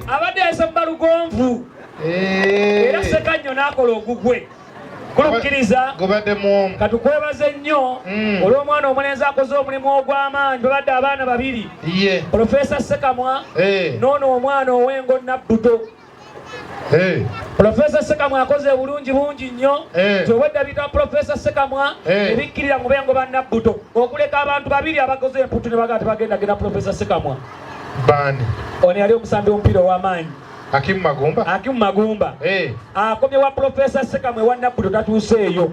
abadde yasabba lugonvu era sekanyo n'akola ogugwe kulukkiriza katukwebaze nnyo mm. olw'omwana omulenzi akoze omulimu ogw'amaanyi babadde abaana babiri profesa sekamwa noono omwana ow'engo nabbuto Hey. Profesa Sekamwa akoze obulungi bungi nnyo hey. Tewedda bita Profesa Sekamwa hey. Ebikkirira mu bengo ba Nabbuto okuleka abantu babiri abakoze emputtu ne bagati bagenda genda Profesa Sekamwa bani ono yali omusambi omupiira ow'amaanyi Hakimu Magumba Hakimu Magumba hey. Akomye wa Profesa Sekamwa ewa Nabbuto tatuuseeyo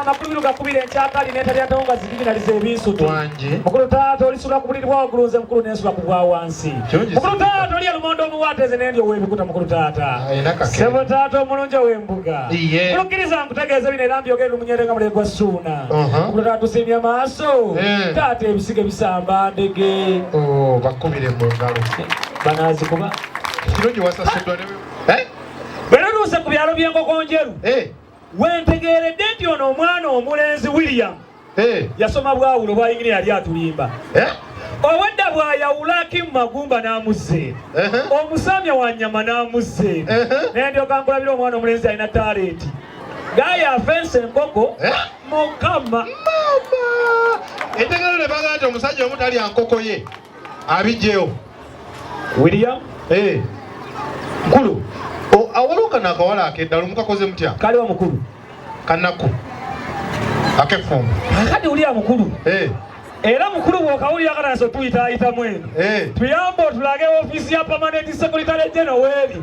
amakulubiru gakubira enkyakali netalyatawo nga zibiginaliza ebinsutu mukulu taata olisula kubuliri bwa waggulu nze mukulu nensula ku bwa wansi mukulu taata oli elumonde omuwaata eze nendi owebikuta mukulu taata sebo taata omulungi owembuga mukulukkiriza nkutegeeza bino era mbyogere lumunyere nga mulegwa suuna uh-huh. mukulu taata tusimye maaso eh. taata ebisiga ebisamba ndege oh, bakubire mu ngalo banazikuba kirungi wasasuddwa bwe natuuse ku byalo by'enkokonjeru eh. wentegeeredde nti ono omwana omulenzi william eh. yasoma bwawulo bwayingini yali atulimba eh. obwedda bwayawula akimu magumba n'amuzze omusamya wa nyama n'amuzze naye ndyoka nkulabira omwana omulenzi alina talenti gaya afensa enkoko mukama entegeero ne bagamba nti omusajja omu talya nkoko ye abijjewo william eh. mukulu awaliwo kano akawala akeddala omukakoze mutya kaliwa mukulu kanaku akefumbo akadi wulira mukulu eh. era mukulu bwokawulira kanaso tuyitaayitamu eno eh. tuyambe otulage ofiisi ya permanent secretary general weeri